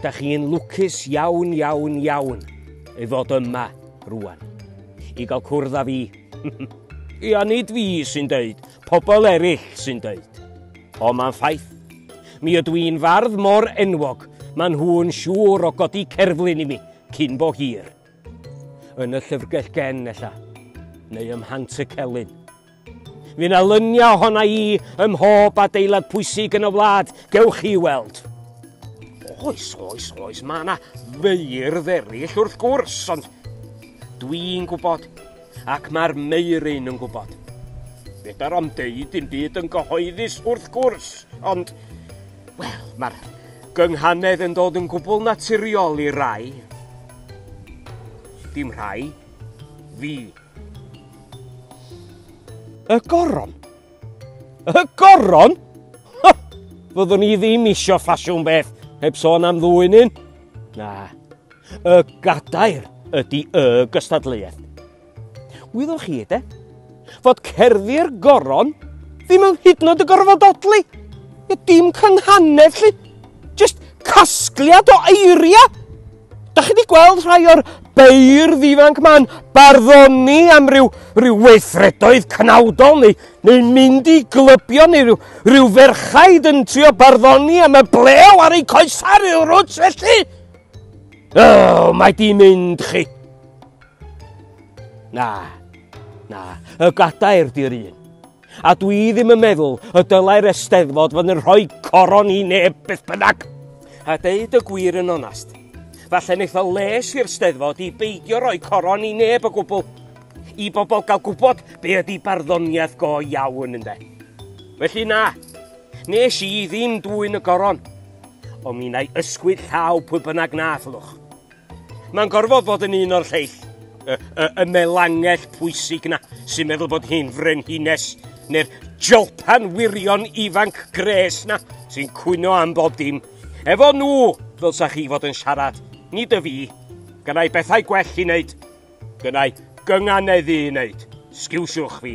Dach chi'n lwcus iawn, iawn, iawn i fod yma rwan, i gael cwrdd â fi. Ia, nid fi sy'n deud, pobl eraill sy'n deud. O, mae'n ffaith. Mi ydw i'n fardd mor enwog, maen nhw'n siŵr o godi cerflun i mi, cyn bo hir. Yn y llyfrgell gen, ella, neu ym Mhant y Celyn. Fydd na luniau ohona i ym mhob adeilad pwysig yn y wlad, gewch chi weld. Oes, oes, oes, mae yna feirdd eraill wrth gwrs, ond dwi'n gwybod, ac mae'r meiryn yn gwybod. Fedar am deud dim byd yn gyhoeddus wrth gwrs, ond, wel, mae'r gynghanedd yn dod yn gwbl naturiol i rai. Dim rhai, fi. Y goron? Y goron? Ha! Fyddwn i ddim isio ffasiwn beth heb sôn am ddwy un. Na. Y gadair ydy y gystadleuaeth. Wyddoch chi, de? Fod cerddi'r goron ddim yn hyd nod y gorfod odli. Dim cynghanedd, lli. Just casgliad o eiriau. Da chi wedi gweld rhai o'r beirdd ifanc ma'n barddoni am ryw, ryw weithredoedd cnawdol neu, neu mynd i glybio neu ryw, ryw ferchaid yn trio barddoni am y blew ar eu coesau rhyw rwt felly? O, oh, mae di mynd chi. Na, na, y gadair di'r un. A dwi ddim yn meddwl y dylai'r Eisteddfod fod yn rhoi coron i neb beth bynnag. A deud y gwir yn onast, falle wneith o les i'r Steddfod i beidio rhoi coron i neb o gwbl, i bobl gael gwybod be ydy barddoniaeth go iawn ynde. Felly na, nes i ddim dwy'n y goron, ond mi na i ysgwyd llaw pwy bynnag na allwch. Mae'n gorfod bod yn un o'r lleill, y, y, y melangell pwysig na sy'n meddwl bod hi'n frenhines neu'r jolpan wirion ifanc gres na sy'n cwyno am bob dim. Efo nhw, ddylsa chi fod yn siarad, nid y fi. Gynnau bethau gwell i wneud. Gynnau gynganeddu i wneud. Sgiwsiwch fi.